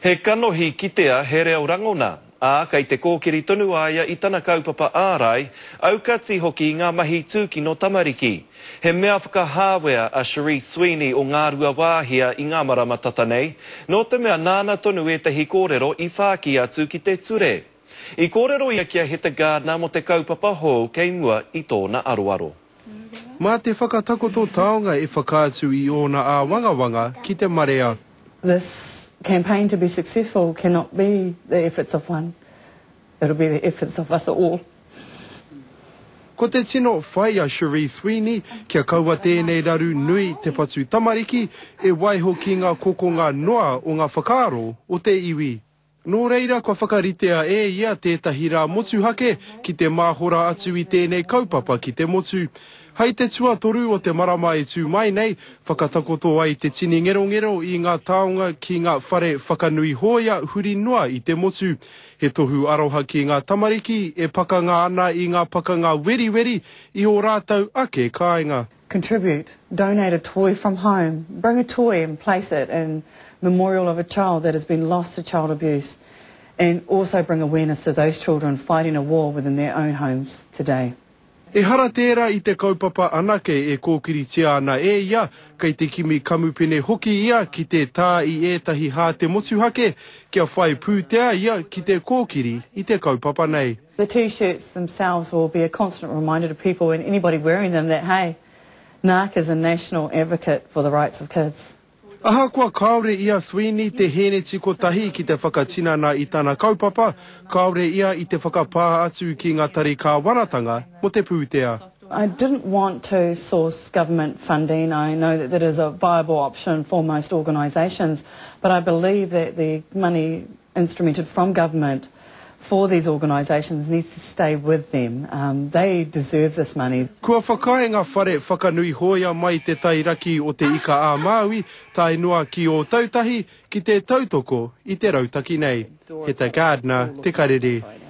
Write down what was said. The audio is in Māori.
He kanohi kitea, he reo rangona, ā, kei te kōkiri tonu a ia i tana kaupapa ārai, aukati hoki i ngā mahi tūkino tamariki. He mea whakahāwea a Cherie Sweeney o Ngāruawāhia i ngā marama tata nei, nō te mea nāna tonu ētahi kōrero i whāki atu ki te ture. I kōrero ia ki a Heta Gardner mō te kaupapa hou kei mua i tōna aroaro. Mā te whakatakoto taonga e whakaatu i ōna āwangawanga ki te marea. This campaign to be successful cannot be the efforts of one, it'll be the efforts of us all. Ko te tino whai a Cherie Sweeney kia kaua tēnei raru nui te patu tamariki e waiho ki ngā kokonga noa o ngā whakaaro o te iwi. Nō reira kua whakaritea e ia tētahi rā motuhake ki te māhora atu i tēnei kaupapa ki te motu. Hai te tuatoru o te marama e tū mai nei, whakatakoto ai te tini ngerongero i ngā taonga ki ngā whare whakanui hōia huri noa i te motu. He tohu aroha ki ngā tamariki e pakanga ana i ngā pakanga weriweri i ō rātou ake kāinga. contribute, donate a toy from home, bring a toy and place it in memorial of a child that has been lost to child abuse and also bring awareness to those children fighting a war within their own homes today. Ehara tērā i te kaupapa anake e kōkiritia ana e ia, kei te kimi kamupene hoki ia ki te tā i ētahi hāte motuhake kia whai pūtea ia ki te kōkiri i te kaupapa nei. The T-shirts themselves will be a constant reminder to people and anybody wearing them that hey, Naarc is a national advocate for the rights of kids. Ahakoa kāore i a Sweeney te hēneti kotahi ki te whakatinana i tana kaupapa, kāore ia i te whakapā atu ki ngā tari kāwanatanga mō te pūtea. I didn't want to source government funding, I know that that is a viable option for most organisations, but I believe that the money instrumented from government for these organisations needs to stay with them. They deserve this money. Kua whakaae ngā whare whakanui hōia mai te tairaki o Te Ika-a-Māui tae noa ki Ōtautahi ki te tautoko i te rautaki nei. He ta Gardner te karere.